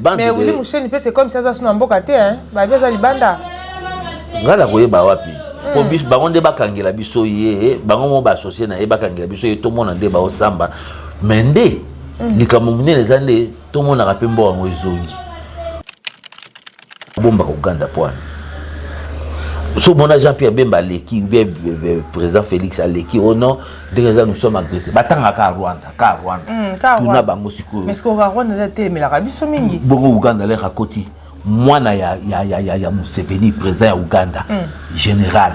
mais wili musheni mpe c'est comme si aza suna mboka te babi aza libanda ngai nakoyeba wapi mpo hmm. biso bango nde bakangela biso ye bango mo baassocie na ye bakangela biso ye tomona nde baosamba me nde hmm. likambo monene eza nde tomonaka mpe mboka yango ezongi Bomba ko ganda pwani. So mona Jean Pierre Bemba aleki ou bien euh, euh, président Félix aleki oh non ndenge za nous sommes agressés. Batanga ka Rwanda, ka Rwanda. Mm, ka Tuna Rwanda. bango sikoyo. Mais ko Rwanda la te melaka biso mingi. Bongo Uganda le rakoti mwana ya ya ya ya, ya Museveni président ya Uganda. Mm. Général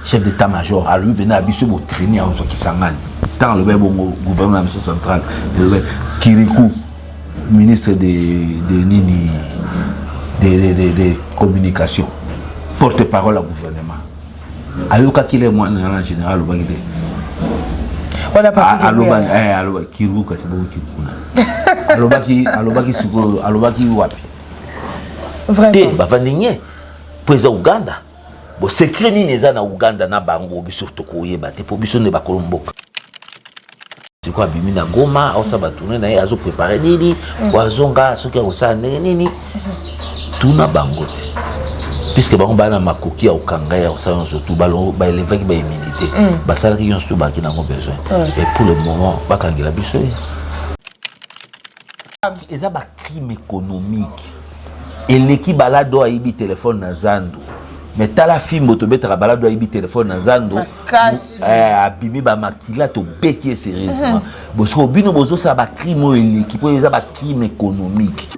chef d'état major alobi mpena ya biso botraini yango soki esangani ntango alobaki bongo gouvernement ya biso central elobaki kiriku ministre de, de nini de, de, de, de communication porte parole ya gouvernement ayokaki le mwana na général alobaki te aloba eh, aloba kiru kasi bongo kiru kuna alobaki alobaki sikoyo alobaki wapi te bavandi nye mpo eza uganda bo secret nini eza na uganda na bango biso tokoyeba te mpo biso nde bakolo mboka sikoyo abimi na goma aosa batourne na ye azo prepare nini po azonga soki akosala ndenge nini tuna bango te puisque bango baa na makoki ya kokanga ya kosala nyonso tu baelevaki bahumilité mm. basalaki nyonso tu baki nango besoin et pour le moment bakangela biso ye eza ba crime économique eleki balado ayibi telefone na zando me tala fimbo tobetaka balado ayibi telefone na zando eh, abimi bamakila tobeti ye serieusement mhm. bosiko bino bozosala bacrime oyo eleki mpo eza bacrime économique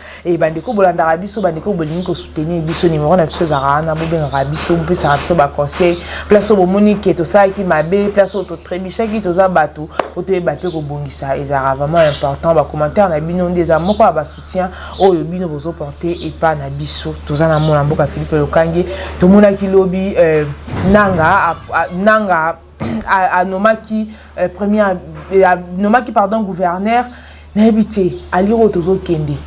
e bandeko bolandaka biso bandeko bolingi kosoutenir biso nimero na biso ezalaka wana bobengaka biso bopesaka biso baconseil place oyo bomoni ke tosalaki mabe place oyo totrebishaki toza bato po toyeba mpe kobongisa ezalaka vraiment important bacommentaire na bino nde eza moko ya basoutien oyo bino bozoporte epa na biso toza na mona mboka philippe lokange tomonaki lobi euh, nanga nanga anomaki euh, premier euh, anomaki pardon gouverneur nayebi te alire oyo tozokende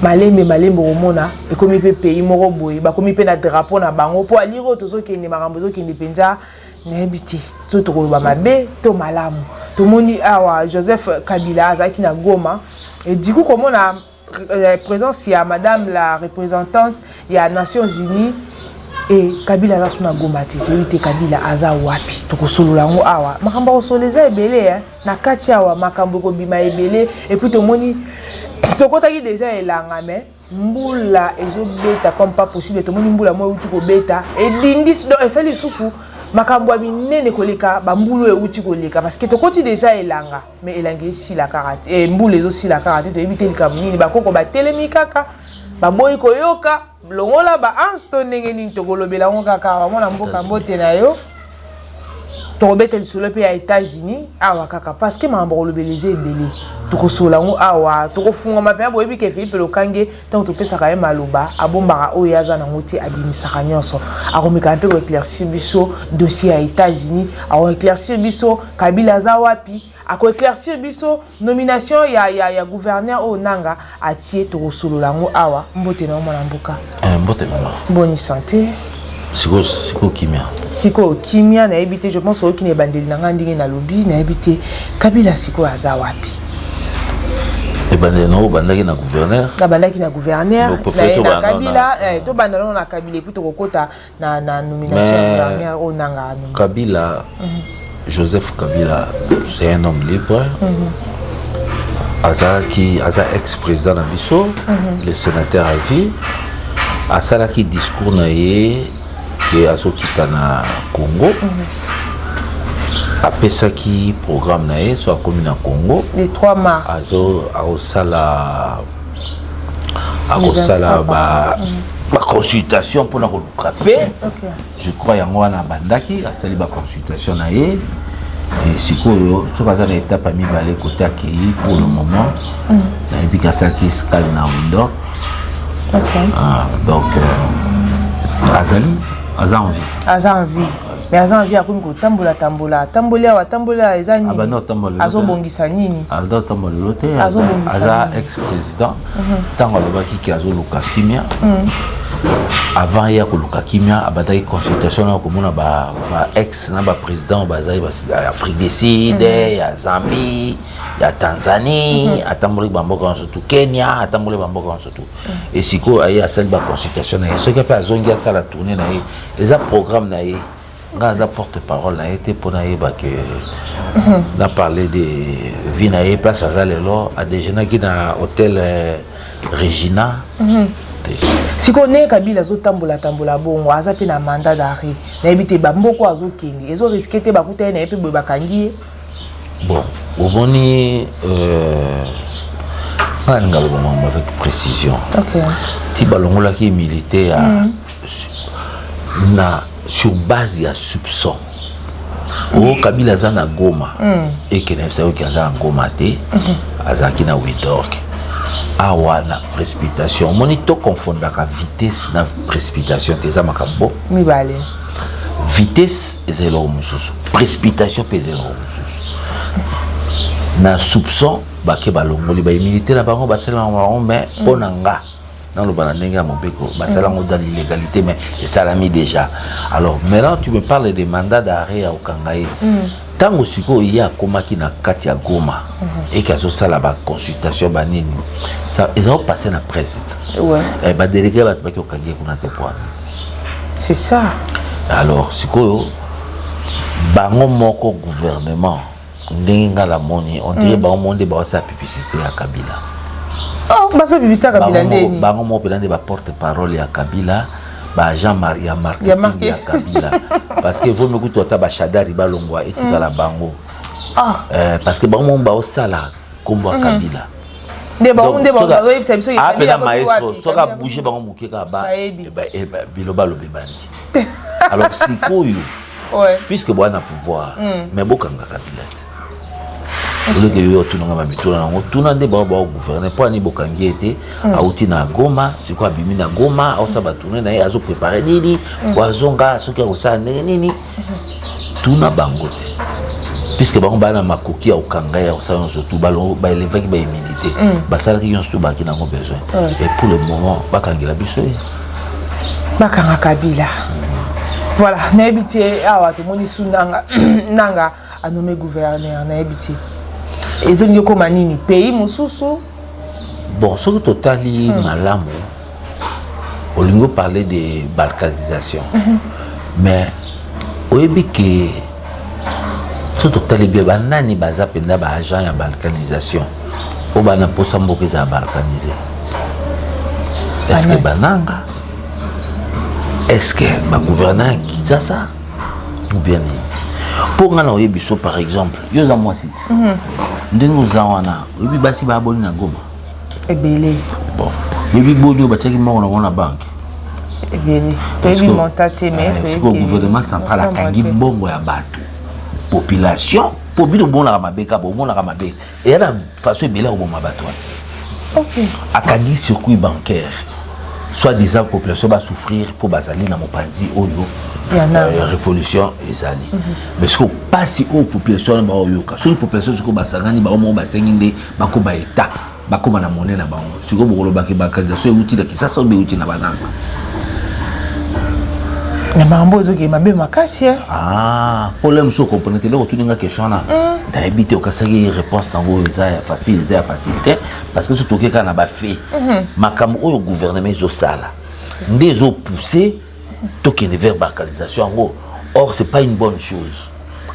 malembe malembe okomona ekomi mpe pays moko boye bakomi mpe na drapeau na bango mpo alire oyo tozokende makambo ezokende mpenza nayebi te so tokoloba mabe to malamu tomoni awa joseph kabila azalaki na goma ediku komona euh, présence ya madame la représentante ya nations unies e kabila aza suna goma te toyebi te kabila aza wapi tokosolola yango awa makambo ya kosolola eza ebele eh. na kati awa makambo ekobima ebele epuis tomoni tokotaki deja elanga mais mbula ezobeta comme pas possible tomoni mbula moko euti kobeta edindisi donc esali lisusu makambo ya minene koleka bambulu euti koleka parce que tokoti deja elanga mais elangi esila kaka te eh, mbula ezosila kaka te toyebi te likambo nini bakoko batelemi kaka baboyi koyoka longola baanse to ndenge nini tokolobela yango kaka awa mwana mboka mbote na yo tokobeta lisolo mpe ya états-unis awa kaka parce que makambo kolobela eza ebele tokosolola yango awa tokofungama mpenza boyebi ke philipe lokange Ntango topesaka ye maloba, abombaka oyo ye aza nango te, abimisaka nyonso. Akomekaka mpe ko eclaircir biso dossier ya Etats-Unis, ako eclaircir biso Kabila aza wapi, ako eclaircir biso nomination ya, ya, ya gouverneur oyo Nanga atie, tokosolola yango awa. Mbote na yo mwana mboka. Eh, mbote mama. Boni sante. sikoyo sikoyo kimia sikoyo kimia nayebi te je pense oyoki na ebandeli na ngai ndenge nalobi nayebi te kabila sikoyo aza wapi ebandeli nango obandaki na gouverneur nabandaki na gouverneur na kabila eh, tobanda nano na kabila epui tokokota na nomination ya gouverneur oyo nanga kabila mhm. Joseph Kabila c'est un homme libre mm -hmm. azalaki aza ex président na biso mm -hmm. le sénateur à vie asalaki discours na ye ke azokita na Congo mm -hmm. apesaki programme na ye so akomi na Congo le 3 mars azo akosala akosala ba mm -hmm. baconsultation mpona koluka mpe je crois yango wana abandaki asali baconsultation na ye sikoyo soki aza na etape ya mibale kote akei pour le moment mm. nayebi ke asalaki scale na windor ah, donc euh, azali aza en vie aza en vie mais aza na vie akomi kotambola tambola atamboli awa atamboli awa eza nini azobongisa nini azobongisa aza ex président ntango alobaki ke azoluka kimia mm. avant ye akoluka kimia abandaki consultation na komona ba, ba ex na baprésident bazali ya afrique du sud mm. ya zambie ya tanzanie mm-hmm. atambolaki bamboka nyonso tu kenya atambolaki bamboka nyonso tu mm. e sikoyo aye asali baconsultation na ye soki mpe azongi asala tourne na ye eza programme na ye nga aza porte parole na ye te mpo nayeba ke na parle de vie na ye place aza lelo adejeunaki na hôtel euh, regina mhm. sikoyo ndenge kabila azotambola tambola bongo aza mpe na mandat d'arrêt nayebi te bamboko azokende ezo riske te bakuta ye na ye mpe boye bakangi ye Bon, oboni euh, nga linga loba mambo avec précision okay. ti balongolaki militaire ya mm. na sur base ya soupçon o oh, kabila aza na goma mm. ekende bisa oki aza na goma te mm -hmm. azalaki na widork awa na précipitation omoni to confondaka vitesse na précipitation te eza makambo mibale vitesse eza eloko mosusu précipitation mpe eza eloko mosusu na soupçon bake balongoli bahumilité na bango basalelaka bango mais mpo na nga naloba na ndenge ya mobeko basala yango dans l'illégalité mais esalami déjà alors maintenant tu me parles de mandat d'arrêt ya kokanga ye ntango sikoyo ye akomaki na kati ya goma mhm. eke azosala baconsultation banini eza opasse na presse badelege bato baki okangi ye kuna te poana c'est ça alors sikoyo bango moko gouvernement ndenge nga la moni on dirait mm. bango moko nde baosala publicité ya kabila oh, basala publicité ya kabila ndeni bango moko mpenza nde baporte parole ya kabila baagent ya marketing ya kabila parce que vomi kutu ata bashadari balongwa etikala mm. bango ah. eh, parce que bango moko baosala nkombo ya mm. kabila nde bango nde bango bazoyebisa biso apela maestro soki abouge bango moke kaka bilo balobi bandi alors sikoyo puisque boya na pouvoir hmm. mais bokanga kabila te oleke yo otunanga bamituna yango tuna nde bango baogouverne mpo ani bokangi ye te hmm. auti na goma sikoyo abimi na goma aosa batourne na ye azoprepare nini hmm. po azonga soki akosala ndenge nini tuna bango te puisque bango baa na makoki ya kokanga ya kosala nyonso tu baelevaki baimini te mm. basalaki nyonso tu baaki nango besoin et pour le moment bakangela biso ye bakanga kabila voilà nayebi te awa tomoni su nanga nanga anome gouverneur nayebi te ezongi okoma nini pays mosusu bon soki totali hmm. malamu olingi oparle de balkanisation mm -hmm. mais oyebi ke so totali bie banani baza mpenza baagent ya balkanisation oyo bana mposa mboka ezala balkanise eske bananga eske bagouverna ya kinshasa ubien nini mpo ngai na oyebi so par exemple yo oza mwasi ti mhm. ndenge oza wana Oyebi basi ba abonné na Goma? Ebele. Bon. Oyebi boni oyo batiaki moko na na banque? Ebele. Toyebi monta te mais eh, toyebi. Siko gouvernement central akangi mbongo ya bato. Population po bino bomonaka mabe kaka bomonaka mabe eya na façon ebele ya koboma bato wana. Okay. Akangi circuit bancaire soit disant population ba souffrir po bazali na mopanzi oyo euh, révolution ezali. Mm -hmm. mais sikoyo mpasi oyo population wana baoyoka soki population sikoyo basangani bango moko basengi nde bakoba etat bakoma na mone na bango sikoyo bokolobaki bakandidatio euti na kisasa obe euti na bananga na makambo ezokee mabe makasi eh? ah, pole mosusu okomprene te eloko otuni nga question wana mm. nayebi te okasaki réponse nango eza ya facile eza ya facile te parce que so toke kaka na bafe mm-hmm. makambo oyo gouvernement ezosala nde ezopousse tokende vers balkanisation yango or c'est pas une bonne chose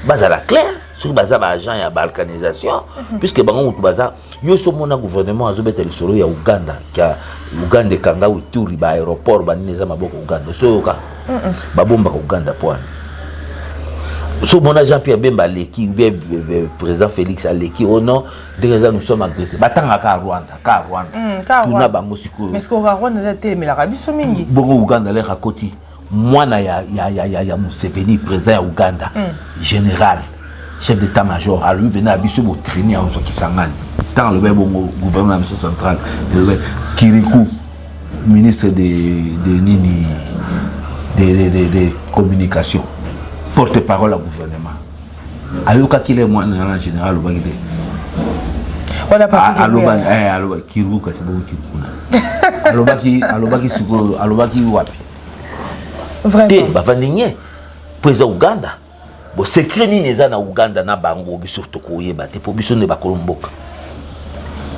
bazala clair soki baza baagent ya balkanisation mhm. puisque bango motu baza yo so omona gouvernement azobeta lisolo ya uganda ya uganda ekanga wituri baaéroport banini eza maboko uganda osoyoka babombaka uganda poani so omona jean pierre bemba aleki ubien euh, euh, président félix aleki o oh non ndenge eza nous sommes agressé batanga ka rwanda ka rwanda hmm, tuna bango sikoyoemelaka biso mingi bongo uganda leka koti mwana ya, ya, ya, ya, ya museveni président ya uganda mm. général chef d'état major alobi mpena ya biso botreni yango soki sangani ntango alobaki bongo gouvernement ya biso central elobaki kiriku ministre de, de nini de, de, de, de communication porte parole ya gouvernement ayokaki le mwana na général alobaki te alobaki eh, alobaki kiruku kasi bongo kiruku kuna alobaki alobaki sikoyo alobaki wapi te bavandi nye mpo eza uganda bo secret nini eza na uganda na bango biso tokoyeba te mpo biso nde bakolo mboka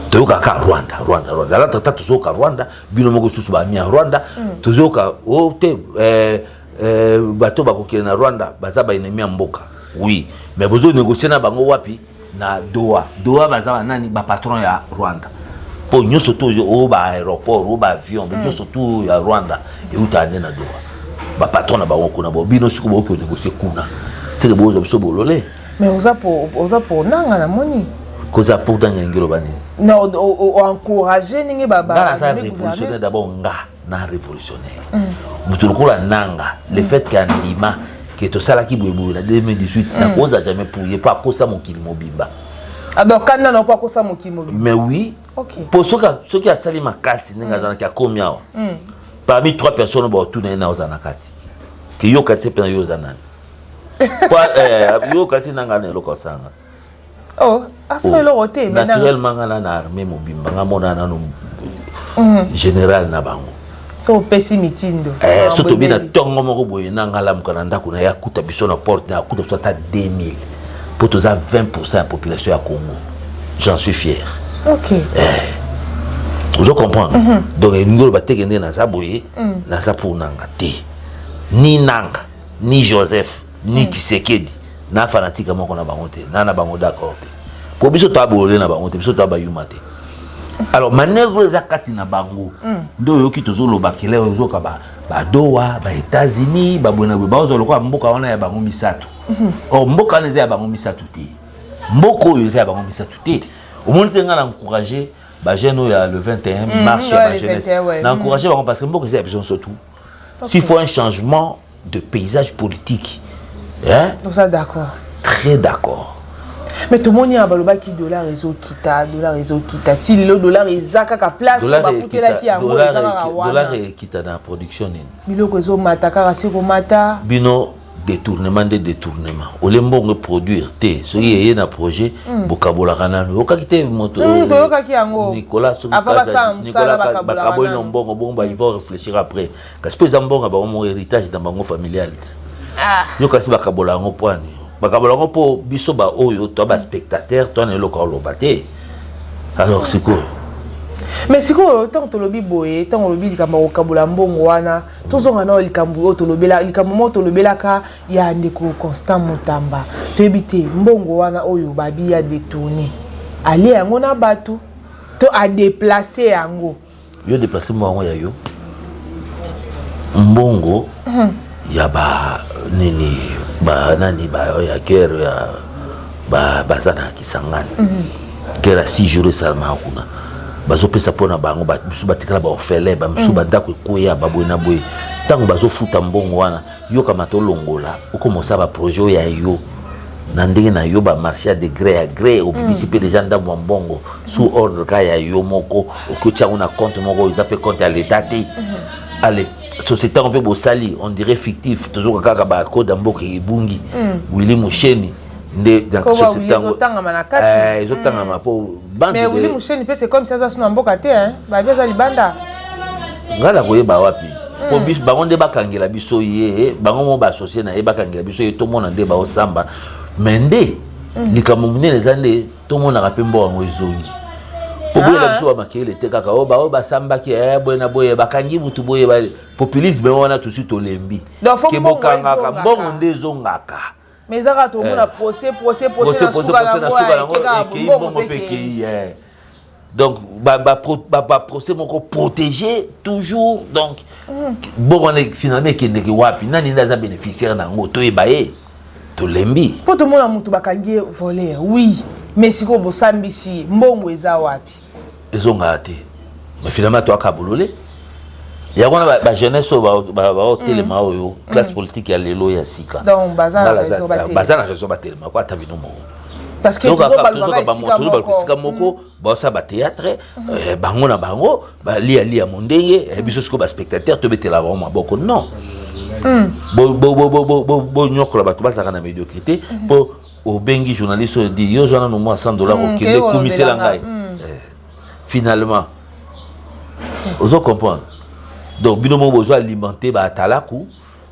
toyokaka rwanda rwanda rwanda alatata tozoyoka rwanda bino moko lisusu bamia rwanda mm. tozoyoka o oh, te eh, Eh, bato bakokende na rwanda baza baennemi ya mboka oui mais bozo négocier na bango wapi na doha doha baza banani bapatron ya rwanda mpo nyonso to oyo baaéroport oyo baavion hmm. nyonso to ya rwanda eutaka nde na doha bapatron na bango kuna bo bino siko bokoki konégocier kuna seke bozwa biso bolole mais oza po oza po nanga na moni koza pour nanga elingi loba nini na oencourage ndenge ba ba révolutionnaire d'abord nga na révolutionnaire moto lokola nanga le mm. fait ke andima ke tosalaki boyeboye na 2018 mm. nakoza jamais pour ye mpo akosa mokili mobimba alors ah, kanda na mpo akosa mokili mobimba mais oui mpo soki asali makasi ndenge mm. azalaki akomi awa parmi trois personnes baotuna ye na oza na kati ke yo kati se mpe na yo oza nani eh, yo kasi nanga na eloko asanga oh asala oh, eloko te naturellement nga na na armée mobimba nga mona nanu mm. général na bango so opesi mitindo eh, so tobi na ntongo moko boye na nga lamuka na ndako na ye akuta biso na porte na akuta biso ata 2000 mpo toza 20 pourcent ya population ya congo j'en suis fier okay. eh, ozo comprendre mm -hmm. donc elingi oloba teke nde naza boye mm. naza mpo nanga te ni nanga ni joseph ni hmm. tshisekedi na fanatika moko na bango te na na bango d'accord te po biso toa bolole na bango te biso toa bayuma te alors manœuvre eza kati na bango hmm. nde oyoki tozoloba kele ozoka badowa baétats-unis babwenaboye baozwa lokola mboka wana ya bango misato hmm. or mboka wana eza ya bango misato te mboka oyo eza ya bango misato te omoni te ngai na encourage bajeune oyo ya le 21 marche ya bajeunesse na encourage bango parce que mboka eza ya biso nso tout s'il faut un changement de paysage politique hein? oza d'accord très d'accord mais tomoni awa balobaki dollar ezokita dollar ezokita ti lelo dollar eza kaka place bakutelaki yango eza kaka wana dollar ekita na production nini biloko ezomata kaka se komata bino detournement nde detournement olie mbongo eproduire te soki eye na projet mm. bokabolaka nano oyokaki te moto mm, toyokaki yango nicolas bakaboli na mbongo bongo ils vont réfléchir après kasi mpe eza mbongo ya bango moko héritage na bango familial te ah. yo kasi bakabola yango poani bakabola yango mpo biso baoyo to baspectateur to na eloko oloba te alors sikoyo mais sikoyo ntango tolobi boye ntango olobi likambo ya kokabola mbongo wana tozonga nayo likambo oyo tolobela likambo moko tolobelaka ya ndeko constant mutamba toyebi te mbongo wana oyo babi ya detourne alie yango na bato to adeplace yango yo deplace mwa yango ya yo mbongo hmm. ya ba nini ba nani ba ya guerre ya ba baza na Kisangani mm -hmm. kera 6 jours esalamaka kuna bazopesa mpo na bango bamisu batikala baorphelin bamisu mm. bandako ekweya baboye na boye ntango bazofuta mbongo wana yokama tolongola okomosala baprojet oyo ya yo na ndenge na yo bamarché ya degré ya gré obimisi mpe mm. deja ndambo ya mbongo sous ordre ka ya yo moko okoti yango na compte moko eza mpe compte ya leta te mm-hmm. ale société yango mpe bosali on dirait fictif tozoka kaka bacode ya mboka ebungi mm. willi musheni nde société yango ezotangama na kati eh, ezotangama mm. po bande mais wili musheni pe c'est comme si aza suna mboka te hein ba beza libanda ngala koyeba wapi mm. po biso bango nde bakangela biso ye bango mo ba associer na ye bakangela biso ye tomona nde baosamba mais nde mm. likambo monene eza nde tomonaka mpe mboka yango ezongi po boyela ah. biso bamakele te kaka oyo oh, baoyo oh, basambaki eh, boye na boye bakangi butu boye populisme wana tosi tolembi ke bokangaka mbongo nde ezongaka mais eza kaka tomona eh. procès procès procès na suka na ngo ekeka bongo pe ekei eh. donc baprocès moko protégé toujours donc mm. bongo wana finalement ekendeke wapi nani nde aza bénéficiaire na yango toyeba ye tolembi mpo tomona moto bakangi ye voler oui mais sikoyo bosambisi mbongo eza wapi ezongaka te mais finalement toyaka bolole yango wana bajeunesse oyo baotelema mm. oyo mm. classe politique ya lelo ya sika baza na raison batelema ko ata bino moko tozobaka esika moko mm. baosala bateatre eh, bango na bango balialia mondenge eh, biso sikoyo baspectateur tobetela bango maboko non bonyokola bato bazalaka na médiocrité mpo obengi journaliste oyo di yo zwa nanu mwa 100 dollar mm, okende kumisela ngai mm. eh, finalement hmm. ozo comprendre donc bino moko bozo alimenter baatalaku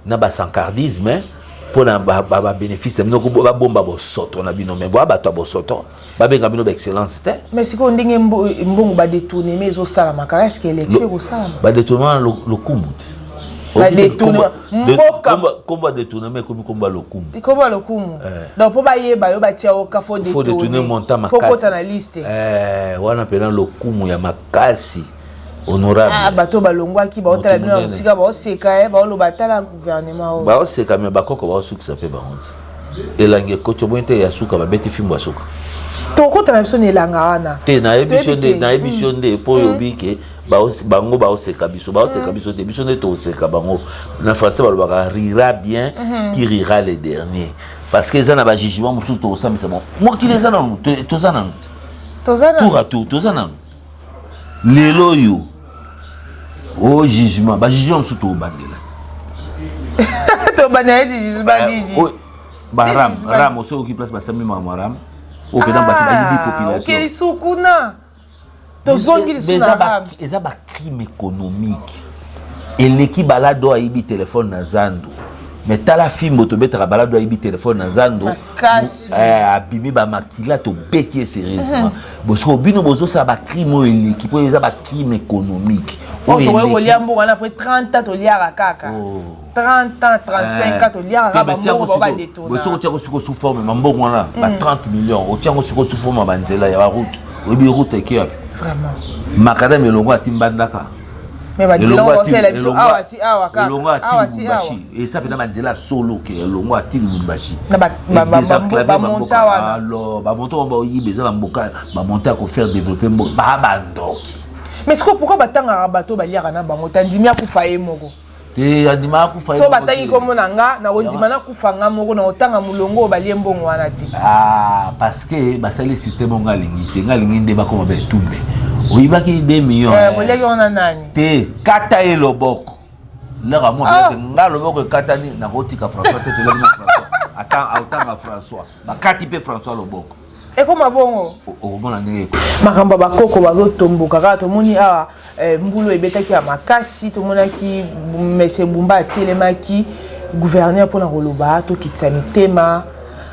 na basankardisme mpo na babénéfice ba, ba, ba, bino moko babomba bosoto na bino me boa bato ya bosoto babenga bino baexcellence te mais sikoyo ndenge mbongo badetourneme ezosalama kaka eske élection ekosalama badetournema lokumu kombo ya detourneme ekomi kombo ya lokumu kombo ya lokumu eh. donc mpo bayeba yo batia yo kafo detourne monta makasi na liste eh, wana mpena lokumu ya makasi honorable ah, bato balongwaki baotala bino ya mosika baoseka ye eh, baoloba tala gouvernement oyo baoseka me bakoko baosukisa mpe bango nzi elangi ekoti omoni te ya suka babeti fimbo ya suka tokota na biso na elanga wana te nayebiso nde nayebiso nde mpo hmm. oyobi ke bango baoseka biso baoseka hmm. biso te biso nde toseka bango na français balobaka rira bien hmm. qui rira le dernier parce que eza na bajugement mosusu tokosambisa bango mokili eza nanu toza nanu tour à tour toza nanu lelo oyo o oh, jugement ba jugement mosusu tobandela tobandela ete jugement eh, nini oh, baram ram osoki place basambi makambo ram oyo mpenza bato bayibi ah, populationokei sukuna tozongi lisusu eza bacrime économique eleki balado ayibi telefone na zando me tala fimbo tobetaka balado ayibi telefone na zando kasi eh, abimi bamakila tobeti ye serieusement mhm. bosiko bino bozosala bacrime oyo eleki mpo eza bacrime économique oyo tokoki kolia mboka wana apres 30 ans toliaka kaka 30 ans 35 ans toliaka kaka bambongo bao badetona bosiko otiako siko sous forme mambongo wana ba 30 mhm. millions otiango siko sous forme ya banzela ya baroute oyebi route eke wapi makadame elongo atimbandaka mais ba dilongo ba sala biso awa ti awa ka awa ti awa et ça peut dans la solo que longo a ti lumbashi na ba ba ba ba monta wa alors ba monta ba yi beza na mboka ba monta ko faire développer mboka ba ba ndoki mais sikoyo pourquoi batangaka bato baliaka na bango tandimi akufa ye moko te andimaka kufa so batangi nkombo na nga nakondima nakufa nga moko nakotanga molongo oyo balie mbongo wana te ah, parce que basali systeme oyo nga alingi te nga alingi nde bakoma baetumbe oyibaki 2 million boleki eh, wana nani te kata ye loboko laka mo ah. nga loboko ekatani nakotika françois te toleki na françois atanga françois bakati mpe françois loboko ekoma bongo okomona ndenge makambo ya bakoko bazotomboka kaka tomoni awa eh, mbulu ebetaki ya makasi tomonaki mese bumba atelemaki gouverneur mpona koloba tokitisa mitema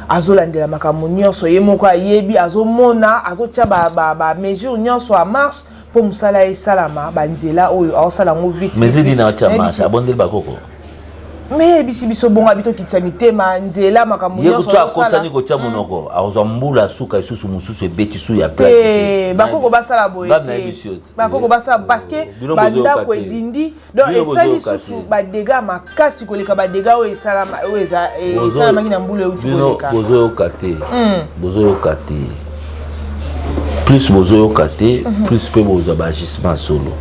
azolandela makambo nyonso ye moko ayebi azomona azotya bamesure ba, ba nyonso a marche mpo mosala esalama banzela oyo aosala yango vite mais edina watya marche abondeli bakoko meyebisi biso bonga bitokitisa mitema nzela makambo ye kutu akosani kotya monoko hmm. akozwa mbula suka lisusu mosusu ebeti su ya te bakoko basala boye te bakoko basala parce que bandako edindi donc esali susu badega makasi koleka badega oyo esalamaki na mbula euti koleka bozoyoka te hmm. bozoyoka te plus bozoyoka te mhm. plus mpe bozwa baagissement solo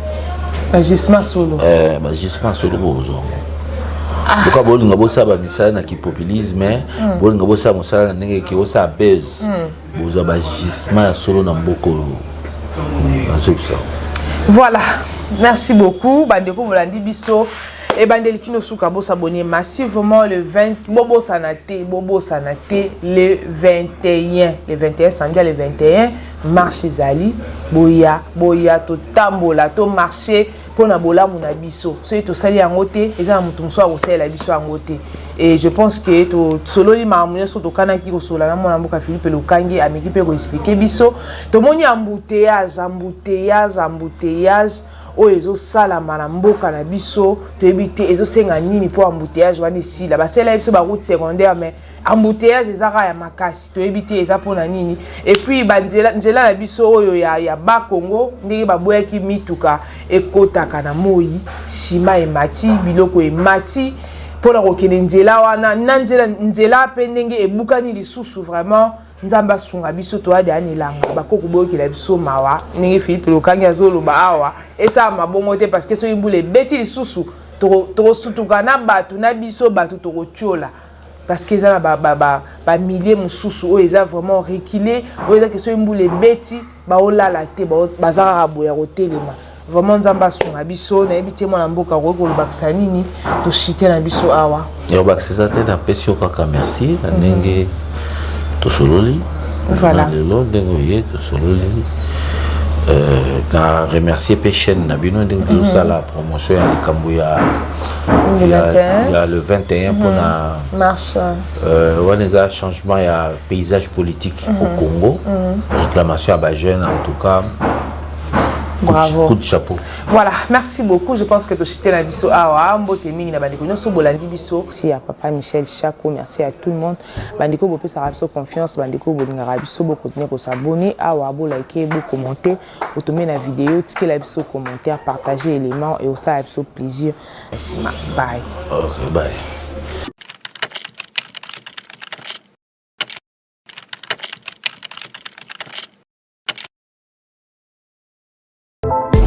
baagissement solo eh, baagissement solo bozwa ah. boka bolinga bosala bamisala na kipopulisme hmm. bolinga bosala mosala na ndenge eke osala base hmm. bozwa ba gisement ya solo na mboka oyo nazobisa voilà merci beaucoup bandeko bolandi biso ebandeli kino suka bosabone massivement le 20 bobosana te bobosana te le 21 le 21 samedi ya le 21 marche ezali boya boya totambola to marche mpo na bolamu na biso soki tosali yango te eza na moto mosusu akosalela biso yango te e je pense ke tosololi makambo nyonso tokanaki kosolola na mwana mboka philippe lokangi ameki mpe koexplike biso tomoni ambuteyaze ambuteyaze ambuteyaze oyo ezosalama na mboka na biso toyebi te ezosenga nini mpo ambuteyaze wana esila basalela biso baroute secondaire mais embouteillage eza kaka ya makasi toyebi te eza mpona nini epuis banzela nzela na biso oyo ya, ya bakongo ndenge baboyaki mituka ekotaka na moi nsima emati biloko emati mpo na kokende nzela wana na nzela nzela mpe ndenge ebukani lisusu vraiment nzambe asunga biso toya deya na elanga bakoki koboyokela biso mawa ndenge philippe lokangi azoloba awa esala mabongo te parce que soki mbula ebeti lisusu tokosutuka na bato na biso bato tokotyola parce que eza na ba, ba, ba, ba milieu mosusu oyo eza vraiment reculer oyo eza ke soki mbula ebeti baolala te baza kaka boya kotelema vraiment nzambe asunga biso nayebi te mwana mboka okoki kolobakisa nini toshite na biso awa yobakisisa te napesi yo kaka merci na mhm. ndenge tosololi voilà. lelo ndenge oye tosololi euh, na remercier mpe chaîne na bino ndenge tozosala mhm. promotion ya likambo ya mm -hmm. ya le 21 mpona mhm. wana eza changement ya paysage politique au mhm. congo mhm. réclamation ya bajeune en tout cas Bravo. Coup de chapeau. Voilà, merci beaucoup. Je pense que tu as la biso awa mbote mingi na bandeko nyoso bolandi biso. Merci à papa Michel Chaco, merci à tout le monde. Bandeko bopesa biso confiance, bandeko bolingaka biso, bo continuer ko s'abonner awa, bo liker, bo commenter. otombe na video otikela biso commentaire partage élément et osala biso plaisir nsima bye okay, bye